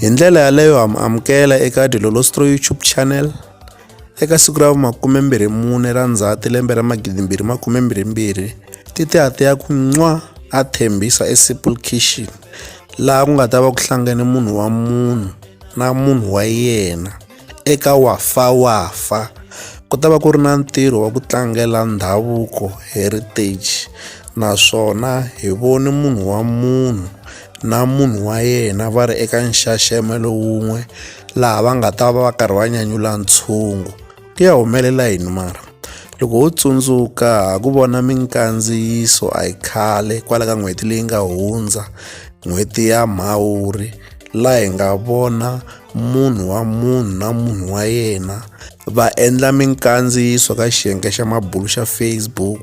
hi ndlela yaleyo ha mu amukela eka dilolostro youtube channel eka siku ra makumembirhi mune ra ndzhati lembe ra magidimbirhi makumembirhi mbirhi titiati ya ku nwa a thembisa esimple kitchen laha ku nga ta va ku hlangane munhu wa munhu na munhu wa yena eka Wafa Wafa ku ta va ku ri na ntirho wa ku tlangela ndhavuko heritage naswona hi vone munhu wa munhu na munhu wa yena va ri eka nxaxamelo lowun'we laha va nga ta va va karhi va nyanyula ntshungu ku ya humelela yini mara loko ho tsundzuka ha ku vona minkandziyiso a yi khale kwala ka n'hweti leyi nga hundza n'hweti ya mhawuri laha hi nga vona munhu wa munhu na munhu wa yena va endla minkandziyiso ka xiyenge xa mabulu xa Facebook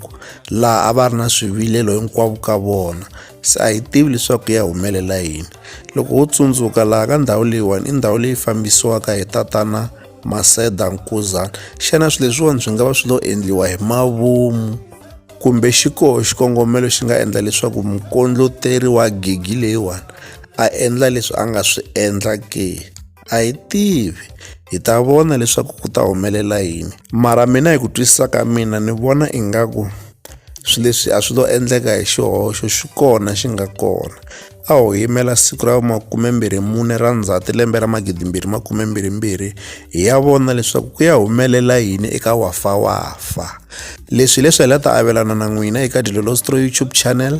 laha a va ri na swivilelo hinkwavo ka vona se a hi tivi leswaku ya humelela yini loko wo tsundzuka laha ka ndhawu leyiwani i ndhawu leyi fambisiwaka hi tatana Maseda Nkuzana xana swilo leswiwani swi nga va swi lo endliwa hi mavomu kumbe xi koho xikongomelo xi nga endla leswaku mukondloteri wa gigi leyiwani a endla leswi a nga swi endla ke a hi tivi hi ta vona leswaku ku ta humelela yini mara mina hi ku twisisa ka mina ni vona ingaku swi leswi a swi lo endleka hi xihoxo xi kona xi nga kona a ho yimela siku ra makumembirhi mune ra ndzhati lembe ra magidimbirhi makumembirhi mbirhi hi ya vona leswaku ku ya humelela yini eka wafa wafa leswi hileswi hi la ta avelana na n'wina eka dilolostro youtube channel